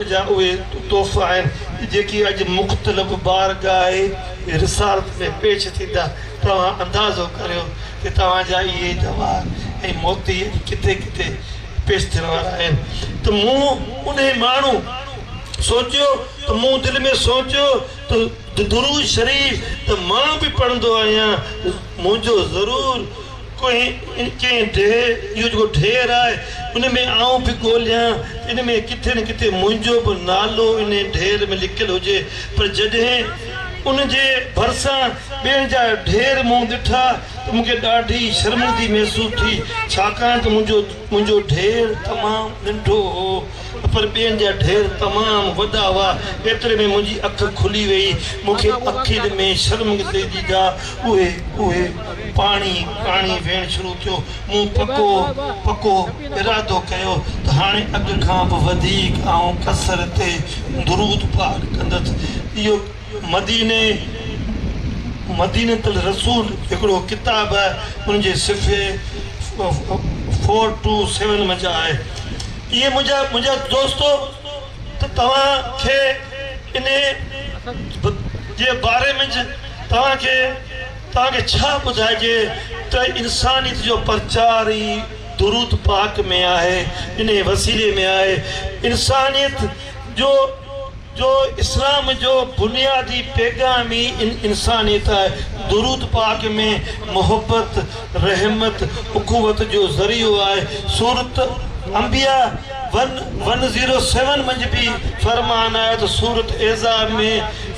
جا اهي تحفا آهن جيڪي اڄ مختلف بارگاهه رسالت ۾ پيش ٿيندا، توهان اندازو ڪريو ته توهان جا اهي جواهر ۽ موتي اڄ ڪٿي ڪٿي پيش ٿيڻ وارا آهن ته مون انهي ماڻهو سوچيو ته مون دل ۾ سوچيو ته درود شريف ته مان به پڙهندو آهيان منهنجو ضرور ڪنهن ڪنهن ڊيهه اهو جيڪو ڍير آهي ان ۾ آئون به ڳوليان ته ان ۾ ڪٿي نه ڪٿي منهنجو به نالو ان ڍير ۾ لڪيل هجي پر جڏهن ان جي ڀرسان ٻين جا ڍير مون ڏٺا ته مون کي ڏاڍي شرمندگي محسوس ٿي ڇاڪاڻ ته منهنجو منهنجو ڍير تمام ننڍو هو. پر ٻين جا ڍير تمام وڏا هئا، ايتري ۾ منهنجي اک کلي ويئي، مون کي اکين ۾ شرمنگسي جي جاء اهي اهي پاڻي پاڻي ويڻ شروع ٿيو، مون پڪو پڪو ارادو ڪيو ته هاڻي اڳ کان به وڌيڪ آئون قصر تي درود پاڪ ڪندس، اهو. مديني، مدينة الرسول، هڪڙو ڪتاب ان جي صفحي فور ٽو سيون منجهه آهي. اي منهنجا دوستو! ته توهان کي انهيء جي باري منجهه توهان کي توهان کي ڇا ٻڌائجي ته انسانيت جو پرچار ئي درود پاڪ ۾ آهي، انهيء وسيلي ۾ آهي. انسانيت جو. جو اسلام جو بنيادي پيغام ئي انسانيت آهي. درود پاڪ ۾ محبت، رحمت، اخوت جو ذريعو آهي. سورة انبياء ون ون زيرو سيون منجھ به فرمان آهي ته سورة احزاب ۾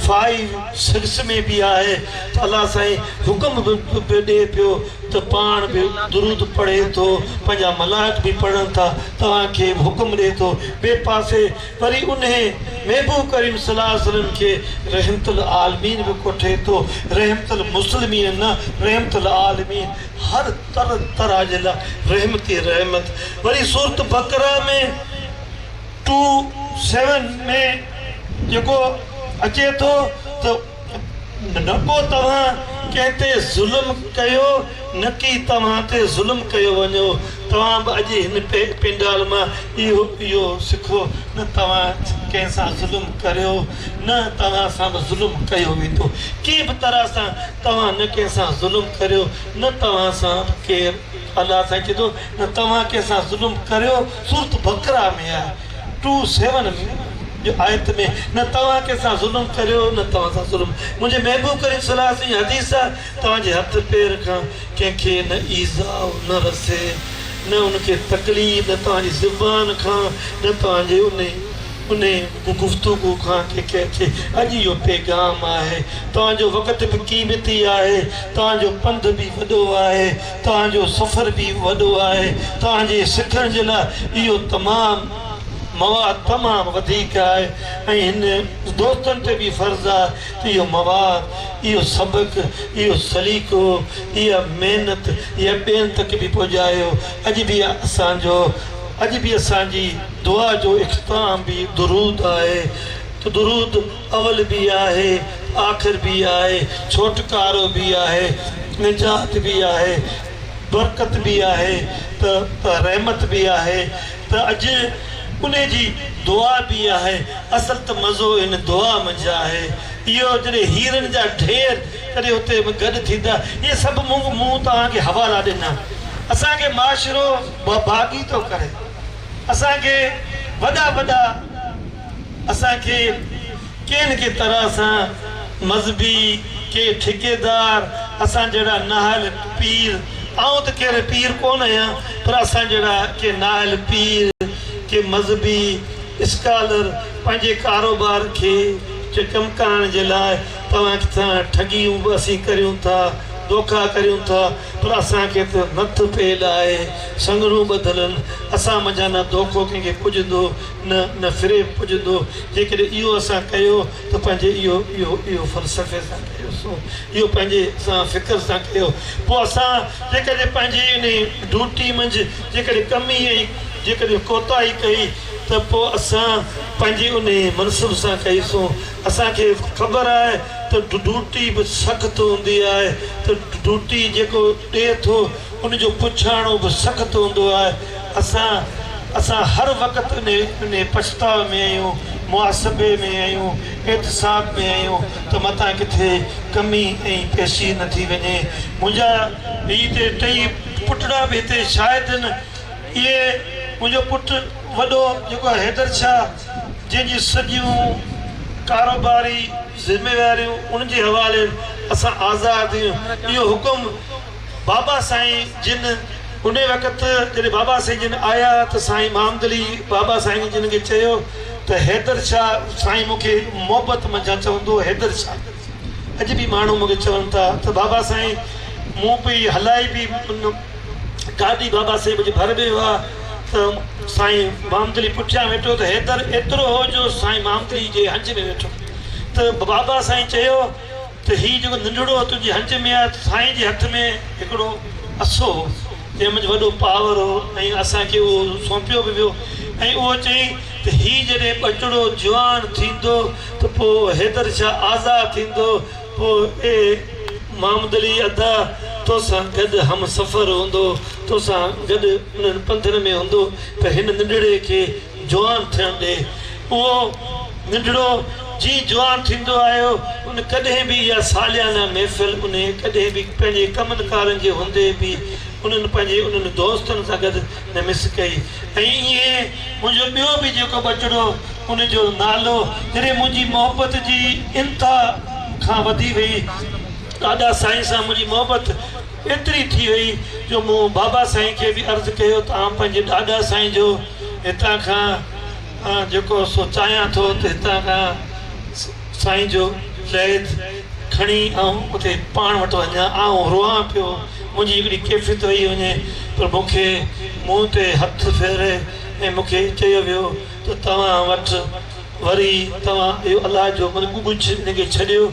فائيو سڪس ۾ به آهي ته الله سائين حڪم به ڏئي پيو ته پاڻ به درود پڙهي ٿو پنهنجا ملائڪ به پڙهن ٿا توهان کي به حڪم ڏئي ٿو ٻئي پاسي وري انهي محبوب ڪريم صلي الله عليه وسلم کي رحمت العالمين به ڪوٺي ٿو، رحمت المسلمين نه، رحمت العالمين، هر تر طرح جي لاء رحمت ئي رحمت. وري سورة بقره ۾ ٽو سيون ۾ جيڪو اچي ٿو ته. رڳو توهان ڪنهن تي ظلم ڪيو نڪي توهان تي ظلم ڪيو وڃو توهان به اڄ هن پينڊال مان اهو سکو نه توهان ڪنهن سان ظلم ڪريو نه توهان سان به ظلم ڪيو ويندو ڪنهن به طرح سان توهان نه ڪنهن سان ظلم ڪريو نه توهان سان به ڪير الله سائين چي ٿو نه توهان ڪنهن سان ظلم ڪريو سورت بقره ۾ آهي ٽو سيون جو آيت ۾ نه توهان ڪنهن سان ظلم ڪريو نه توهان سان ظلم منهنجي محبوب ڪريم صلي الله عليه وسلم جي حديث آ توهان جي هٿ پير کان ڪنهن کي نه ايذاء نه رسي نه ان کي تڪليف نه توهان جي زبان کان نه توهان جي انهي انهي گفتگو کان ڪنهن کي اچي اڄ اهو پيغام آهي توهان جو وقت به قيمتي آهي توهان جو پنڌ به وڏو آهي توهان جو سفر به وڏو آهي، توهان جي سکڻ جي لاء اهو تمام مواد تمام وڌيڪ آهي ۽ هن دوستن تي به فرض آهي ته اهو مواد، اهو سبق، اهو سليقو، اها محنت اها ٻين تڪ به پڄايو. اڄ به اسان جو اڄ به اسان جي دعا جو اختتام به درود آهي ته درود. اول به آهي آخر به آهي، ڇوٽڪارو به آهي نجات به آهي، برڪت به آهي ته رحمت به آهي ته اڄ ان جي دعا به آهي، اصل ته مزو ان دعا منجهه آهي، اهو جڏهن هيرن جا ڍير جڏهن اتي گڏ ٿيندا، اهي سڀ مون توهان کي حوالا ڏنا، اسان کي معاشرو باغي ٿو ڪري، اسان کي وڏا وڏا. اسان کي ڪنھن ڪي طرح سان مذھبي ڪي ٺڪيدار اسان جھڙا ناھل پير آئون ته ڪھڙي پير ڪون آھيان پر اسان جھڙا ڪي ناھل پير ڪي مذھبي اسڪالر پنھنجي ڪاروبار کي چه ڪم ڪرڻ جي لاء توھان کي سان ٺڳيون به اسين ڪريون ٿا دوکا ڪريون ٿا پر اسان کي ته نٿ پيل آھي سنگھڙون ٻڌل ان اسان منجھان نه دوکو ڪنھن کي پڄندو نه نه فريب پڄندو، جيڪڏهن اهو اسان ڪيو ته پنهنجي اهو اهو اهو فلسفي سان ڪيوسون، اهو پنهنجي سان فڪر سان ڪيو، پوء اسان جيڪڏهن پنهنجي انهي ڊوٽي منجهه جيڪڏهن ڪمي ۽ جيڪڏهن ڪوتاهي ڪئي ته پوء اسان پنهنجي انهي منصب سان ڪئيسون، اسان کي خبر آهي ته ڊوٽي به سخت هوندي آهي ته ڊوٽي جيڪو ڏي ٿو ان جو پڇاڻو به سخت هوندو آهي. اسان اسان هر وقت انهي پڇتاء ۾ آهيون، محاسبي ۾ آهيون، احتساب ۾ آهيون ته متان ڪٿي ڪمي ۽ پيشي نه ٿي وڃي. منهنجا هي تي ٽئي پٽڙا به هتي شاهد آهن. اهي منهنجو پٽ وڏو جيڪو آهي حيدر شاهه جنهن جي سڄيون ڪاروباري ذميواريون ان جي حوالي اسان آزاد آهيون. اهو حڪم بابا سائين جن انهي وقت جڏهن بابا سائين جن آيا ته سائين مامدلي بابا سائين جن کي چيو ته حيدر شاهه سائين مون کي محبت منجهان چوندو هو حيدر شاهه اڄ به ماڻهو مون کي چون ٿا ته بابا سائين مون پئي هلائي پئي ان گاڏي بابا سائين منهنجي ڀر ۾ هئا ته سائين مامدلي پٺيان ويٺو ته حيدر ايترو هو جو سائين مامدلي جي هنج ۾ ويٺو ته بابا سائين چيو ته هي جيڪو ننڍڙو تنهنجي هنج ۾ آهي، سائين جي هٿ ۾ هڪڙو اسو هو، جنهن منجهه وڏو پاور هو ۽ اسان کي اهو سونپيو به ويو ۽ اهو چيائين ته هي جڏهن ٻچڙو جوان ٿيندو ته پوء حيدر شاهه آزاد ٿيندو پوء اي محمد علي ادا توسان گڏ همسفر هوندو، توسان گڏ انهن پنڌن ۾ هوندو ته هن ننڍڙي کي جوان ٿيڻ ڏي. اهو ننڍڙو جي جوان ٿيندو آيو، ان ڪڏهن به اها ساليانه محفل انهيء ڪڏهن به پنهنجي ڪمن ڪارن جي هوندي به انهن پنهنجي انهن دوستن سان گڏ نه مس ڪئي ۽ ائين منهنجو ٻيو به جيڪو ٻچڙو ان جو نالو جڏهن منهنجي محبت جي انتها کان وڌي وئي ڏاڏا سائين سان منهنجي محبت ايتري ٿي وئي جو مون بابا سائين کي به عرض ڪيو ته آئون پنهنجي ڏاڏا سائين جو هتان کان مان جيڪو سو چاهيان ٿو ته هتان کان سائين جو ليٿ کڻي آئون اتي پاڻ وٽ وڃان. آئون روئان پيو. منهنجي هڪڙي ڪيفيت ويئي وڃي پر مون کي منهن تي هٿ ڦيري ۽ مون کي چيو ويو ته توهان وٽ وري توهان اهو الله جو ملڪ ڳجهه انهي کي ڇڏيو.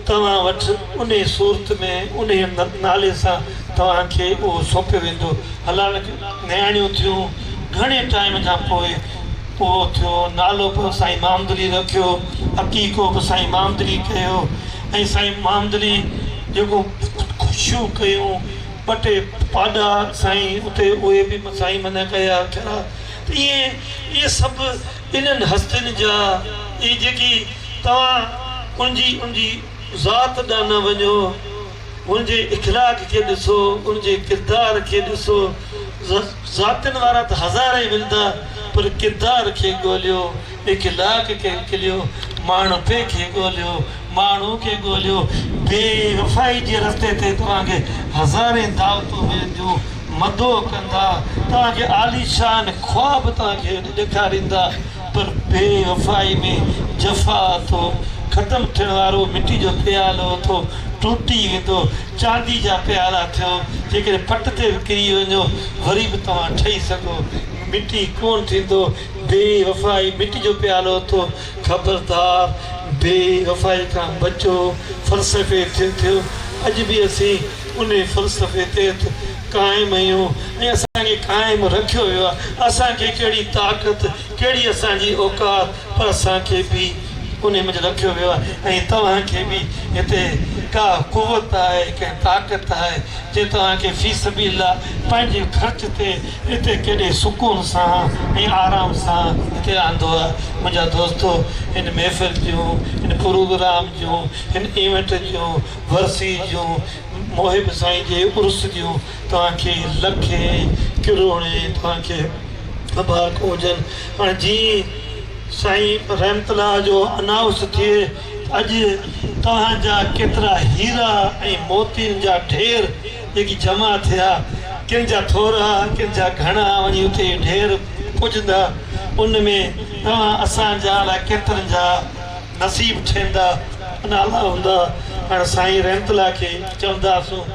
توهان وٽ انهي صورت ۾ انهي نالي سان توهان کي اهو سونپيو ويندو. هلالڪ نياڻيون ٿيون. گهڻي ٽائيم کان پوء اهو ٿيو. نالو به سائين مامدلي رکيو. عقيقو به سائين مامدلي ڪيو ۽ سائين مامدلي جيڪو خوشيون ڪيون، ٻه ٽي پاڏا سائين اتي اهي به سائين منهن ڪيا ڪيا ته ائين اهي سڀ انهن هستين جا اي جيڪي توهان انجي انجي ذات ڏانهن نه وڃو انجي اخلاق کي ڏسو انجي ڪردار کي ڏسو ذاتين وارا ته هزارين ملدا پر ڪردار کي ڳوليو اخلاق کي ڳليو ماڻهپي کي ڳوليو ماڻهو کي ڳوليو، بي وفائي جي رستي تي توهان کي هزارين دعوتون ملنديون، مدعو ڪندا، توهان کي عاليشان خواب توهان کي ڏيکاريندا، پر بي وفائي ۾ جفا اٿو، ختم ٿيڻ وارو مٽي جو پيالو اٿو، ٽٽي ويندو، چاندي جا پيالا ٿيو، جيڪڏهن پٽ تي به ڪري وڃو، وري به توهان ٺهي سگهو، مٽي ڪونه ٿيندو، بي وفائي مٽي جو پيالو اٿو. خبردار بي وفائي کان بچو فلسفي تي ٿيو اڄ به اسين انهي فلسفي تحت قائم اهيون ۽ اسان کي قائم رکيو ويو آهي اسان کي ڪهڙي طاقت ڪهڙي اسان جي اوقات پر اسان کي به انهي منجهه رکيو ويو آهي ۽ توهان کي به هتي ڪا قوت آهي ڪا طاقت آهي جي توهان کي في سبيل الله پنهنجي خرچ تي هتي ڪيڏي سڪون سان ۽ آرام سان هتي آندو آ منهنجا دوستو هن محفل جون هن پروگرام جون هن ايونٽ جون ورسي جون محب سائين جي عرس جون توهان کي لکين ڪروڙين توهان کي مبارڪون هجن هاڻي جي سائين رحمت الله جو انائونس ٿئي ته اڄ توهان جا ڪيترا هيرا ۽ موتين جا ڍير جيڪي جمع ٿيا، ڪن جا ٿورا، ڪن جا گهڻا، وڃي اتي ڍير پڄندا، ان ۾ توهان اسان جا الاء ڪيترن جا نصيب ٺهندا، انا الله هوندا، پاڻ سائين رحمت الله کي چونداسون.